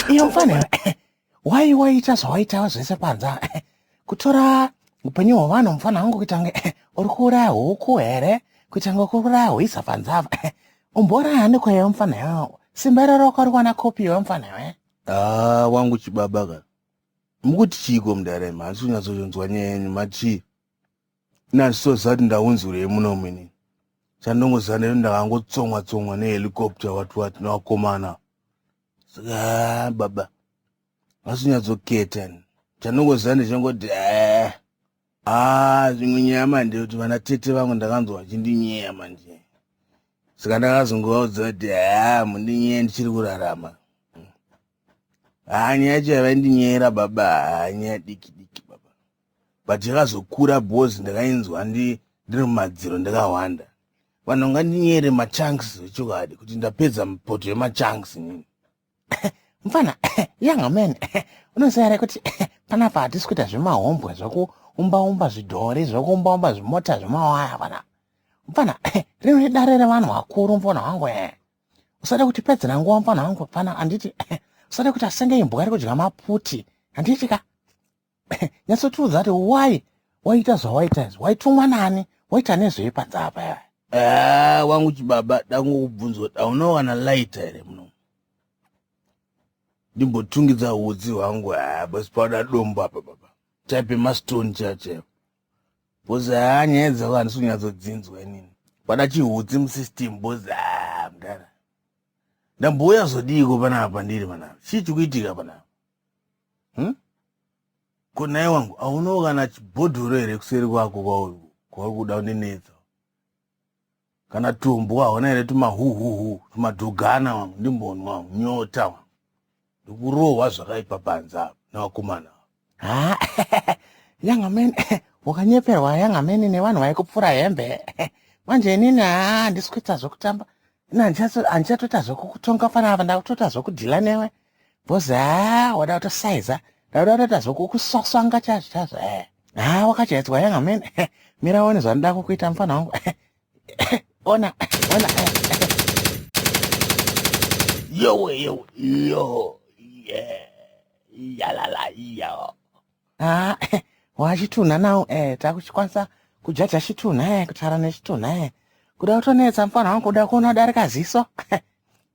iyo mfanira wai waita zvawaitava zvese panza kutora upenyu hwevanhu mufana wangu kuita kunge uri kuuraya huku here kuita kunge kuri kuuraya hwiza panzava umbouraya hani kwaiva mufana iwe simba iroro kwari kuwana kopi iwe mufana iwe Ah, wangu chibaba ka Mukuti chiiko mudhara imi handisi kunyatsonzwa nyaya yenyu machii ini handisoziva kuti ndaunzwirei muno mini chandongoziva nekuti ndakangotsomwa tsomwa nehelicopter wati wati nevakomana saka baba vasinyadzoketa chandongoziva ndechingoti ee eh. haa zvimwe nyaya manje kuti vana tete vangu ndakanzwa vachindinyeya manje saka ndakazongovaudza kuti haa mundinyeya ndichiri kurarama haa nyaya yacho yavaindinyeera baba haa nyaya diki diki baba but yakazokura bhozi ndakainzwa ndiri mumadziro ndakahwanda vanhu vangandinyere machanks vechokwadi kuti ndapedza mupoto yemachanks nini mfana young man unoziva here kuti panapa hatisi kuita zvemahombwe zvekuumbaumba zvidhori zvekuumbaumba zvimota zvemawaya pana mfana rino idare revanhu vakuru mfana wangu e usade kuti pedzera nguva mfana wangu pana handiti usade kuti asenge imbwa iri kudya maputi handiti ka nyatsotiudza kuti why waita zvawaita izvi waitumwa nani waita nezvei panze apa yaya ah, wangu chibaba dangokubvunza kuti aunowana laita here muno ndimbotungidza hutsi hwangu haa ah, basi pauda dombo apa baba type emastone chachayo bhozi haa ah, nyaya dzako handisi kunyatsodzinzwa inini pada chihutsi musystem bhozi haa mdara ndambouya zodiiko panapa ndiri panapa chii chikuitika panapa hmm? ko naye wangu haunawo kana chibhodhoro here kuseri kwako kwauri kuda kundinetsa kana tumbwa hauna here tumahuhuhu tumadhogana wangu ndimbonwa nyota wangu ndikurohwa zvakaipa panze apa nevakomana ava yangamene wakanyeperwa yangamene nevanhu vaikupfura hembe manje inini haa handisi kuita zvokutamba ini handichatoita zvokukutonga fanaa ndakutoita zvokudhila newe Boss haa wada kutosaiza ndauda kutotaza kukuswaswanga chazvo chazvo eh. haa wakajaidzwa yanga mene eh, mira one zvandida kukuita mfana wangu eh, eh, ona ona yowe yowe yo yeah yalala yo haa wachitunha nawo eh takuchikwanisa kujaja chitunha eh kutara nechitunha eh kuda kutonetsa mfana wangu kuda kuona darika ziso